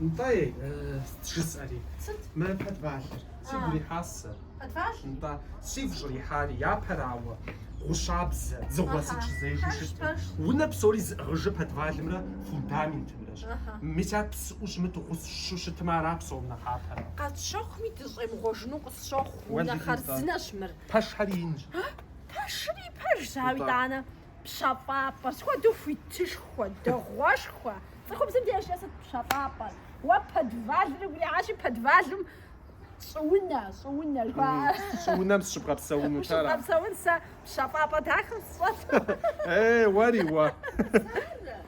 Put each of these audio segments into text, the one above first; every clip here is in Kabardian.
Нтӏэ, жысӏэри. Сыт? Мы подвалыр. Сигу ирихьащ сэ. Подвал? Нтӏэ, сигу щӏырихьари, япэрауэ, гъущабзэ, дзыгъуэ сыт щызежэу щыттым. Унэ псори зыӏыгъыжыр подвалымрэ фундаментымрэщ. Мис ар псыӏэу щымыту, гъущу щытмэ, ара псом нэхъапэр. Къэсщэхуми, дыщӏемыгъуэжыну къысщохъу. Унэ хъарзынэщ мыр. Пэшхьэри инщ. Пэшри пэжщ, ауэ итӏанэ пщэфӏапӏэ, схуэдэу хуитышхуэ, дэгъуэшхуэ. Цӏыхубзым дежкӏэ сыт пщэфӏапӏэр? Уэ подвалыр уигу ирихьащи, подвалым щӏыунэ, щӏыунэ жыхуаӏэ. Щӏыунэм сыщыбгъэпсэунут ара? Ущыбгъэпсэун сэ пщэфӏапӏэ дахэу сщӏэт. Ей, уэри уэ.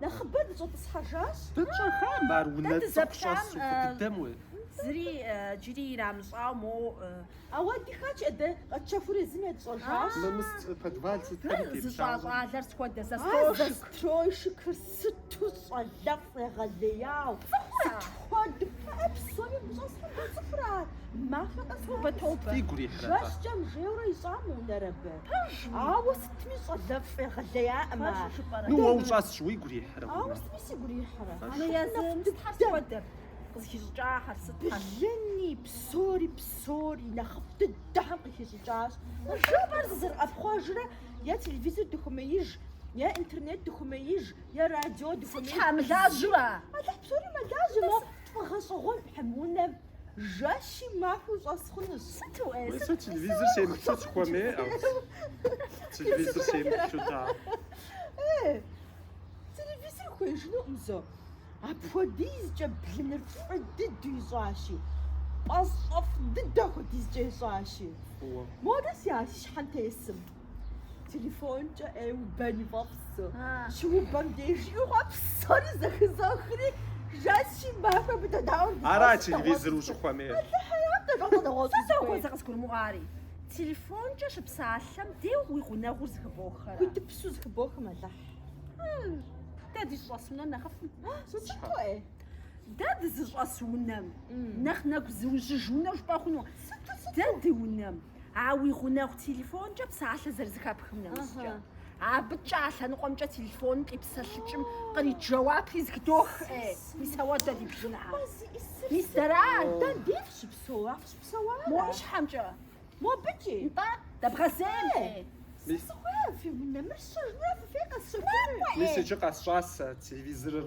Нэхъыбэ дыщӏэтӏысхьэжащ. Дэ тщӏэхам ар унэ цӏыху щӏэсу фӏыдыдэм уей. Зыри иджыри ирамыщӏауэ моуӏы. Ауэ ди хач е дэ къэтщэхури езым етщӏэжащ. Мы мыс подвал сытхэри теплъагъу. Зыщӏа щӏалэр схуэдэ застройщик. А застройщикыр сыту щӏалэфӏ егъэлеяу, сыт хуэду. Кхъыӏэ, псоми гущӏэслъым дыцӏыхурэ ар? Махуэ къэс нэмыс. Фигу рихьрэ-тӏэ? Жэщкӏэм жейуэрэ ищӏам унэр абы? Пэжми. Ауэ сытми щӏалэфӏ егъэлеяӏым ар. Пэжу жыпӏэрэ? Ну, уэ ущӏэсщ, уигу ирихьэрэ Ауэ хъуну? сытми сигу ирихьэрэ. Унэ езым сытхэр схуэдэр? Къызыхищӏыкӏахэр сытхэр? Блыни, псори, псори, нэхъыфӏ дыдэхэм къыхищӏыкӏащ. Жыпӏэр дыкъызэрыӏэпхъуэжрэ, е телевизор дыхумеиж, е интернет дыхумеиж, е радио дыхумеиж. Сыт щхьэ, мылажьэу ара? Алыхь псори мэлажьэ, мо фӏыгъэщӏэгъуэнхьэм унэм. Жэщи махуи щӏэс хъунущ. Сыту ӏей? Уей, сэ телевизор семыплъу сыхуэмеӏэу. Телевизор семыплъу, та. Э, телевизор хуеижынукъым, зо. Апхуэдизкӏэ блыныр фӏы дыдэу ищӏащи, пӏащӏэфӏ дыдэ хуэдизкӏэ ищӏащи. Фӏыуэ. Модэ си, а, си щхьэм тесым. Телефонкӏэ убэни фӏэфӏу, щыубэм деж жиӏэ псори зэхызохри, жэщи махуи абы дедаӏуэу дыщӏэсу. Ара телевизор ущӏыхуэмейр? Алыхьым япэ дыгъуэгъуэщӏу сыт хуей? Сэ дыгъуэгъуэщӏэ къызгурымыӏуари. Телефонкӏэ щыпсалъэм деу уи гъунэгъур зыхыбохэрэ? Хуитыпсу зыхыбохым, Алыхь. Дэ дыщӏэс унэм нэхъыфӏым. Сыту ӏей? Дэ дызыщӏэс унэм нэхъ нэгу зыужьыж унэу жыпӏэ хъуну? Сыту, сыту? Дэ ди унэм. А уи гъунэгъу телефонкӏэ псалъэ зэрызыхэпхым нэмыщӏкӏэ, абыкӏэ а лъэныкъуэмкӏэ телефоным къипсэлъыкӏым кърит жэуапри зэхыдох. Мис ауэ дэ ди бжыгьэ. Мис дара? Дэ диф щыпсэу, а фыщыпсэуа? Мо и щхьэмкӏэ. Мобыкӏи. Нтӏэ, дэбгъэзеймэ. Сэ сыхуей фи унэ мыр сщэжынура фыфей къэсщэхуну? Мис иджы къэсщӏащ сэ телевизорыр.